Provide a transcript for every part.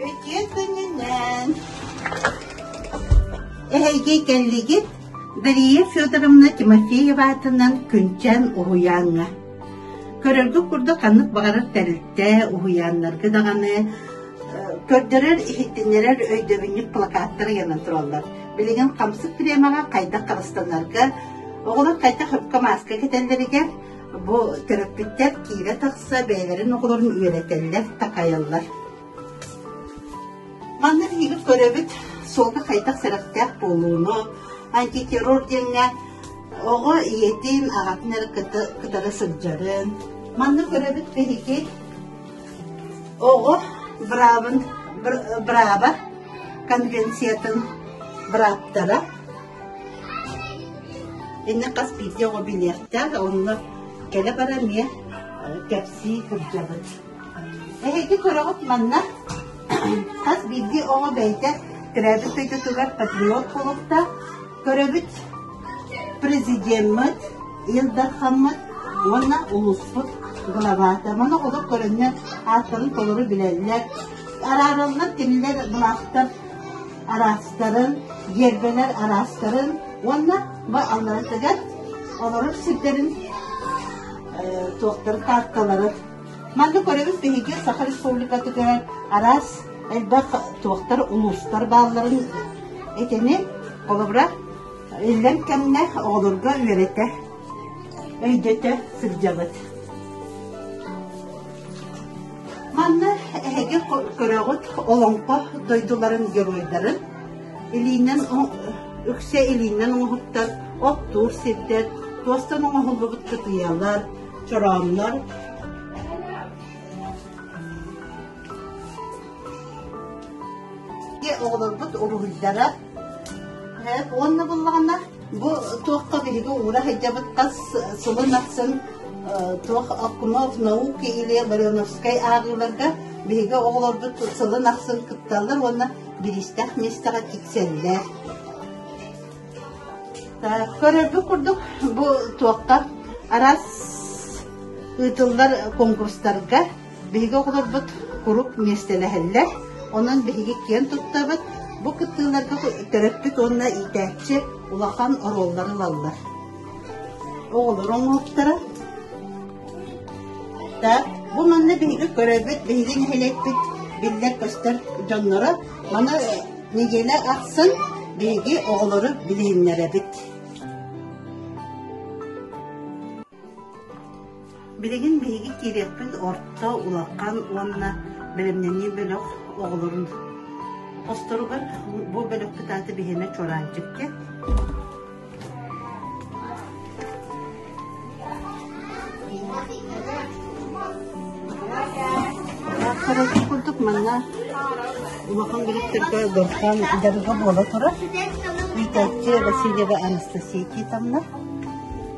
Үтүө күнүнэн! Эһэйгэ кэллигит Дария Федоровна Тимофеева аатынан Күнчэн уһуйааҥҥа. Көрөргө курдук ханнык баҕарар тэрилтэ уһуйааннарга даҕаны э, көрдөрөр-иһиттиннэрэр өйдөбүнньүк плакаттар ыйанан тураллар. Билигин хамсык премияҕа хайдах харыстанарга Оҕолор хайдах өпкө мааска кэтэллэригэр бу төрөппүттэр киирэ тахса бэйэлэрин оҕолорун үөрэтэллэр, такайаллар. Манна биһиги көрөбүт суолга хайдах сэрэхтээх буолууну, антитеррор диэҥҥэ оҕо ийэтин, аҕатын эрэ кытары сылдьарын. Манна көрөбүт биһиги оҕо браабын, браба конвенциятын браптара Инна хас биирдии оҕо билиэхтээх, онно кэлэ баран эмиэ кэпсии сылдьабыт. Эһиги көрөҕүт манна хас биирдии оҕо бэйэтэ төрөөбүт дойдутугар патриот булуктаах, көрөбүт президеммит, Ил Дархаммыт уонна улууспут главата. Маны олор көрөннөр ааттарын толору билэллэр. Араараллар, кинилэр былаахтар араастарын, гербэлэр араастарын уонна алларын тыган олорор сирдэрин туохтарын таарталарын манна көрөбүт биһиги саха республикатыгар араас элбэх туохтар улуустар баалларын итини холобура иллэҥ кэмнэ оҕолорго үөрэтэ өйдөтө сылдьабыт Манна эһиги көрөҕүт Олоҥхо дойдуларын геройдарын илиинэн үксэ илиинэн оҥоһуктар, оттуур сирдэр, туостан оҥоһуллубут кытыйалар, чорооннор, оҕолорбут уруһуйдара уонна буллаҕына Бу туохха биһиги уура сылдьабыт тас сылын ахсын туох Окунов науки или Барионовскай ааҕыыларга биһиги оҕолорбут сылын ахсын кытталлар уонна биристэх миэстэҕэ тиксэллэр. Көрөргө курдук бу туохха араас ыытыллар конкурстарга Биһиги оҕолорбут куруук миэстэлэһэллэр, онон биһиги киэн туттабыт, бу кыттыыларга төрөппүт уонна иитээччи улахан оруоллары ылаллар. Оҕолор оҥоһуктара. Да, бу манна биһиги көрөбүт, биһиги нэһилиэкпит биллэр-көстөр дьонноро маны нэдиэлэ ахсын биһиги оҕолору билиһиннэрэбит. Билигин биһиги киириэхпит орто, улахан уонна бэлэмнэнии бөлөх оҕолорун хосторугар бу бөлөх кытааты биһиэнэ Чуораанчыкка курдук манна улахан бөлөхтөргө дорҕоон дарыга буола турар иитээччи Васильева Анастасия Титовна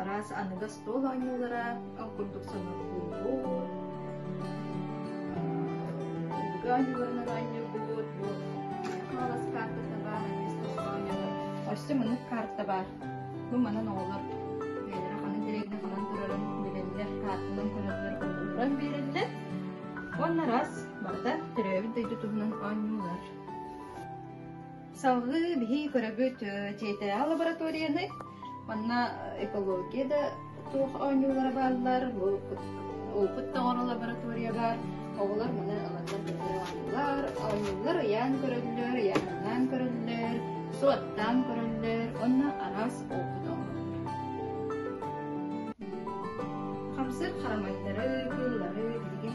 араас аныгас туох оонньуулара ол курдук сонурхуубут өбүгэ оонньууларын оонньуурбут бу хаалас каартата баар өссө мунук карта бар бу манан оҕолор бэйэлэрэ ханан директно ханан турарын билэллэр картанан көрөллөр олорон биэрэллэр уонна раз барыта төрөөбүт дойду туһунан оонньуулар Салгыы биһии көрөбүт дьиэтээҕи лабораторияны, манна экология да суох оонньуулара бааллар, улпут тоҥоро лаборатория баар, оҕолор маны ылаллар оонньуулар, оонньуулар ыйаан көрөллөр, ыйааһыннаан көрөллөр, суоттаан көрөллөр, онно араас улпут оҥороллор. Хамсык харамайдары, кыыллары билигин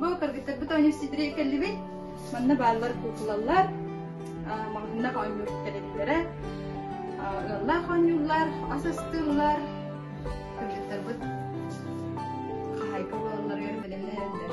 Бу кыргыттарбыт оонньуусчүттэрэ кэллибит. Манна бааллар куукулаллар, маҕаһыыннах оонньуур тэриллэрэ, ыаллаах оонньууллар, ас астыыллар. Кыргыттарбыт хаһаайка буолалларыгар бэлэмнэһэллэр.